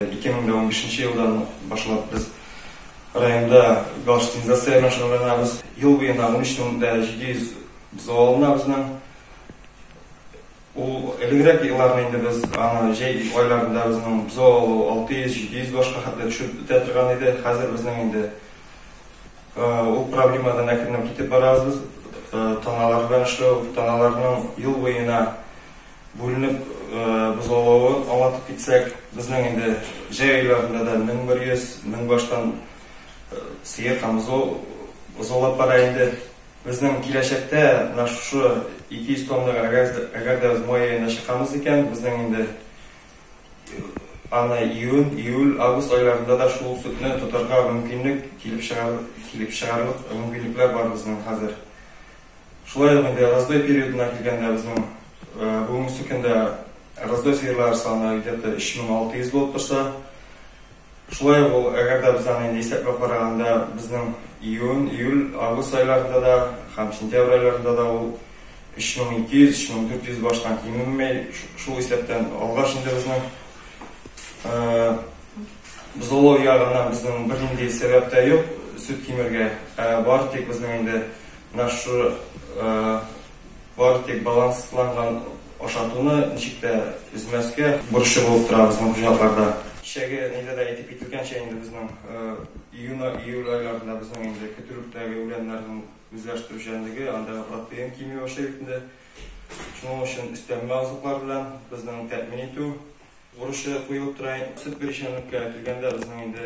Ике мең дә унбиш нче елдан башлап без районда галштинизация белән шөгыльләнәбез. Ел буена унөч мең дә җиде йөз бозау алына безнең. Ул элегрәк елларны инде без аны җәй айларында безнең бозау алу алты йөз, җиде йөз башка хәтле төшеп бетә торган иде. Хәзер безнең инде ул проблемадан әкренләп китеп барабыз без. Таналар белән эшләү, таналарның ел буена Бүленеп без олавы аңлатып китсәк, безнең инде җәй айларында да 1100, 1000 баштан сыер һәм бозау бозаулап бара инде. Безнең киләчәктә менә шушы 200 тоннага әгәр, әгәр дә без май аенда чыкамыз икән, безнең инде аны июнь, июль, август айларында да шул сөтне тотарга мөмкинлек килеп чыгар, килеп чыгарлык мөмкинлекләр бар безнең хәзер. Шулай ук инде раздой периодына килгәндә, безнең бүгенге көндә раздой сыерлар саны где-то 3600 булып торса, шулай ук ул, әгәр дә без аны инде исәпләп караганда, безнең июнь, июль, август айларында да һәм сентябрь айларында да ул 3200, 3400 баштан кимеми, шул исәптән алгач инде безнең бозаулау ягыннан безнең бернинди сәбәп тә юк, сөт кимергә, ә бары тик безнең инде Менә шушы бары тик балансланган ашатуны ничек тә өзмәскә бурычы булып тора безнең хуҗалыкларда. Кичәге нидә дә әйтеп кителгәнчә, инде безнең июнь-июль айларында безнең инде көтүлектәге үләннәрнең үзләштерүчәнлеге, анда протеин кими башлый бит инде. Шуның өчен өстәмә азыклар белән безнең тәэмин итү бурычы куелып тора. Сөт бирүчәнлеккә килгәндә, безнең инде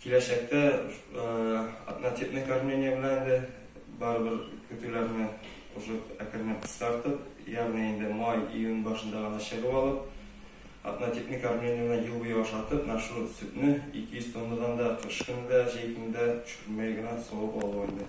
Киләчәктә однотипный кормление белән инде барыбер көтүләрне уже әкренләп кыскартып, ягъни инде май, июнь башында гына чыгып алып, однотипный кормление белән ел буе ашатып, менә шул сөтне 200 тоннадан да кыш көне дә, җәй көне дә төшермәй генә савып алу инде.